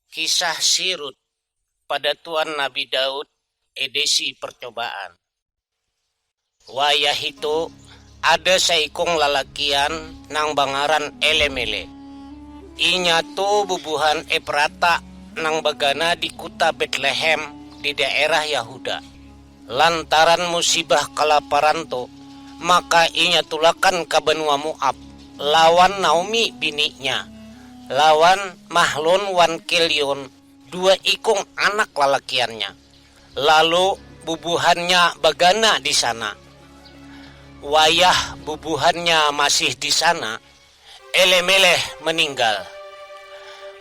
Kisah Si Rut, Padatuan Nabi Daud, Edisi Percobaan. Wayahitu, ada saikung lalakian nang bangaran Elemelek. Inya tu bubuhan Eprata nang bagana di kuta Betlehem di daerah Yahuda. Lantaran musibah kalaparan tu, maka inya tulakan ka banua Moab lawan Naomi bininya, lawan Mahlon wan Kilion, dua ikung anak lalakiannya, lalu bubuhannya bagana di sana. Wayah bubuhannya masih di sana, Elimelekh meninggal,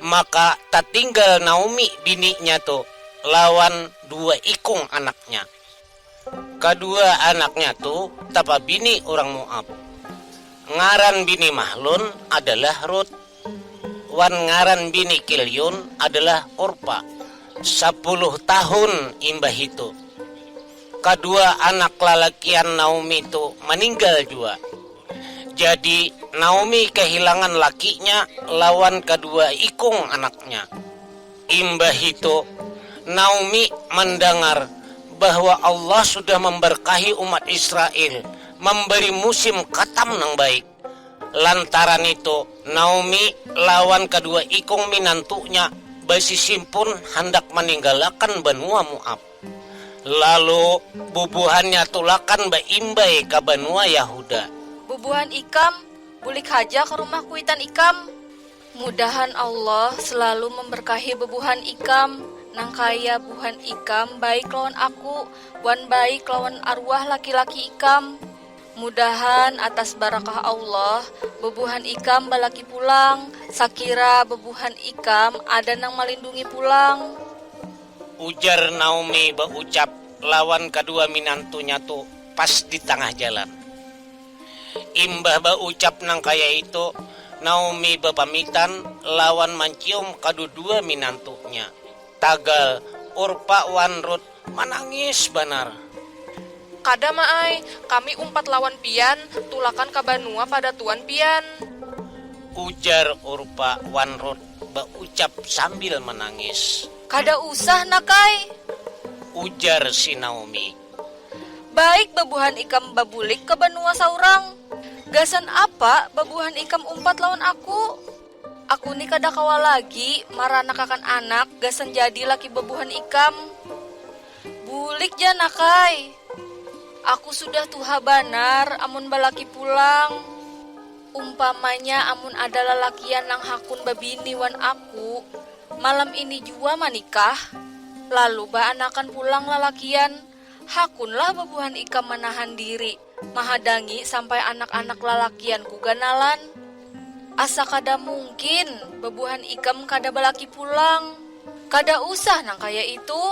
maka tatinggal Naomi bininya tu lawan dua ikung anaknya. Kadua anaknya tu tapabini urang Moab. Ngaran bini Mahlon adalah Rut, wan ngaran bini Kilion adalah Orpa. Sapuluh tahun imbahitu, Kadua anak lalakian Naomi tu maninggal jua. Jadi, Naomi kahilangan lakinya lawan kadua ikung anaknya. Imbahitu, Naomi mandangar bahwa Allah sudah mambarkahi umat Israel, mambari musim katam nang baik. Lantaran nitu, Naomi lawan kadua ikung minantunya basisimpun handak maninggalakan banua Moab. Lalu, bubuhannya tulakan baimbai ka banua Yahuda. Bubuhan ikam, bulik haja ka rumah kuitan ikam. Mudahan Allah selalu memberkahi bubuhan ikam, nangkaya buhan ikam baik lawan aku wan baik lawan arwah laki-laki ikam. Mudahan atas barakah Allah, bubuhan ikam balaki pulang, sakira bubuhan ikam ada nang malindungi pulang. Ujar Naomi baucap lawan kadua minantunya tu pas di tangah jalan. Imbah baucap nang kaya itu, Naomi bapamitan lawan mancium kadudua minantunya. Tagal, Orpa wan Rut manangis banar. Kada, Ma ai. Kami umpat lawan pian, tulakan ka banua padatuan pian. Ujar Orpa wan Rut. baucap sambil manangis. Kada usah nak ai. Ujar si Naomi. Baik babuhan ikam babulik ka banua saurang. Gasan apa babuhan ikam umpat lawan aku? Aku ni kada kawa lagi maranakakan anak gasan jadi laki babuhan ikam. Bulik ja nak ai. Aku sudah tuha banar amun balaki pulang. Umpamanya amun ada lalakian nang hakun babini wan aku, malam ini jua manikah, lalu baanakan pulang lalakian, hakunlah babuhan ikam manahan diri mahadangi sampai anak-anak lalakianku ganalan? Asa kada mungkin, babuhan ikam kada balaki pulang. Kada usah nang kaya itu!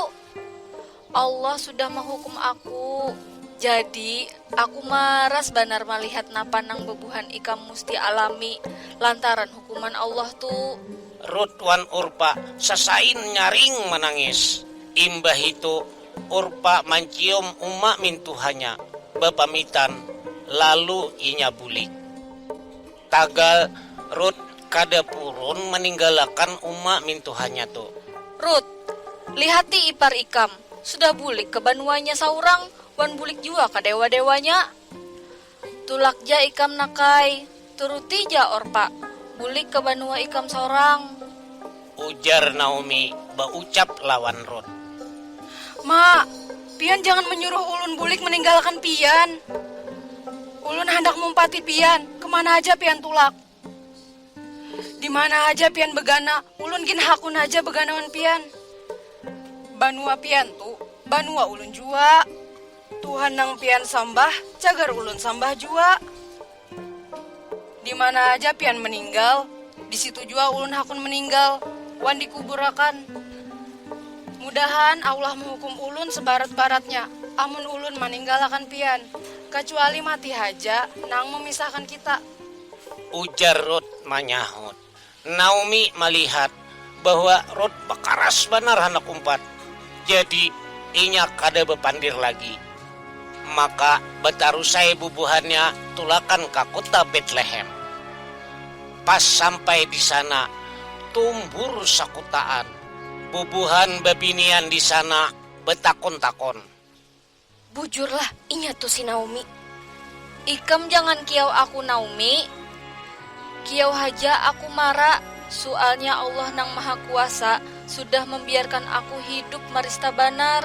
Allah sudah mahukum aku. Jadi, aku maras banar malihat napa nang bebuhan ikam musti alami lantaran hukuman Allah tu. Rut wan Urpa sasain nyaring manangis. Imbahitu, Urpa mancium uma mintuhanya, bapamitan, lalu inya bulik. Tagal, Rut kada purun maninggalakan uma mintuhanya tu. Rut, Lihati ipar ikam, sudah bulik ka banuanya saurang wan bulik jua ka dewa-dewanya. Tulak ja ikam nakai, turuti ja Orpa, bulik ka banua ikam saurang. Ujar Naomi baucap lawan Rut. Ma, pian jangan menyuruh ulun bulik meninggalkan pian. Ulun handak mumpati pian, kemana haja pian tulak. Dimana haja pian begana, ulun gin hakun haja begana wan pian. Banua pian tu, banua ulun jua. Tuhan nang pian sambah, cagar ulun sambah jua. Dimana haja pian meninggal, di situ jua ulun hakun meninggal wan dikubur akan. Mudahan Allah mehukum ulun sebarat-baratnya amun ulun maninggal akan pian, kacuali mati haja nang memisahkan kita. Ujar Ruth manyahut. Naomi malihat bahwa Rut bakaras banar handak umpat, jadi inya kada bapandir lagi. Maka bataruss ai bubuhannya tulakan ka kuta Betlehem. Pas sampai di sana, tumbur sakutaan. Bubuhan babinian di sana batakun-takun. Bujurlah, inya tu si Naomi. Ikam jangan kiau aku Naomi. Kiau haja aku mara, sualnya Allah nang maha kuasa sudah mambiarkan aku hidup marista banar.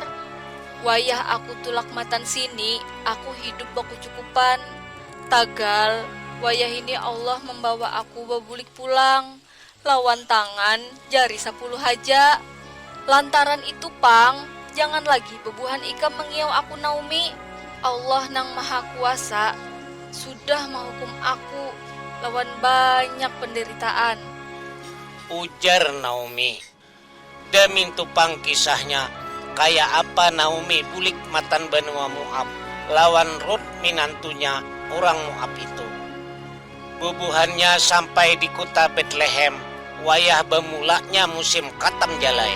Wayah aku tulak matan sini, aku hidup bakucukupan. Tagal, wayahini Allah mambawa aku babulik pulang. Lawan tangan jari sapuluh haja. Lantaran itu pang, jangan lagi bebuhan ikam mengiyau aku Naomi. Allah Nang Maha Kuasa sudah mahukum aku lawan banyak penderitaan. Ujar Naomi. Damintu pang kisahnya, kaya apa Naomi bulik matan banua Moab lawan Rut minantunya urang Moab itu. Bubuhannya sampai di kuta Betlehem wayah bamulanya musim katam jalai.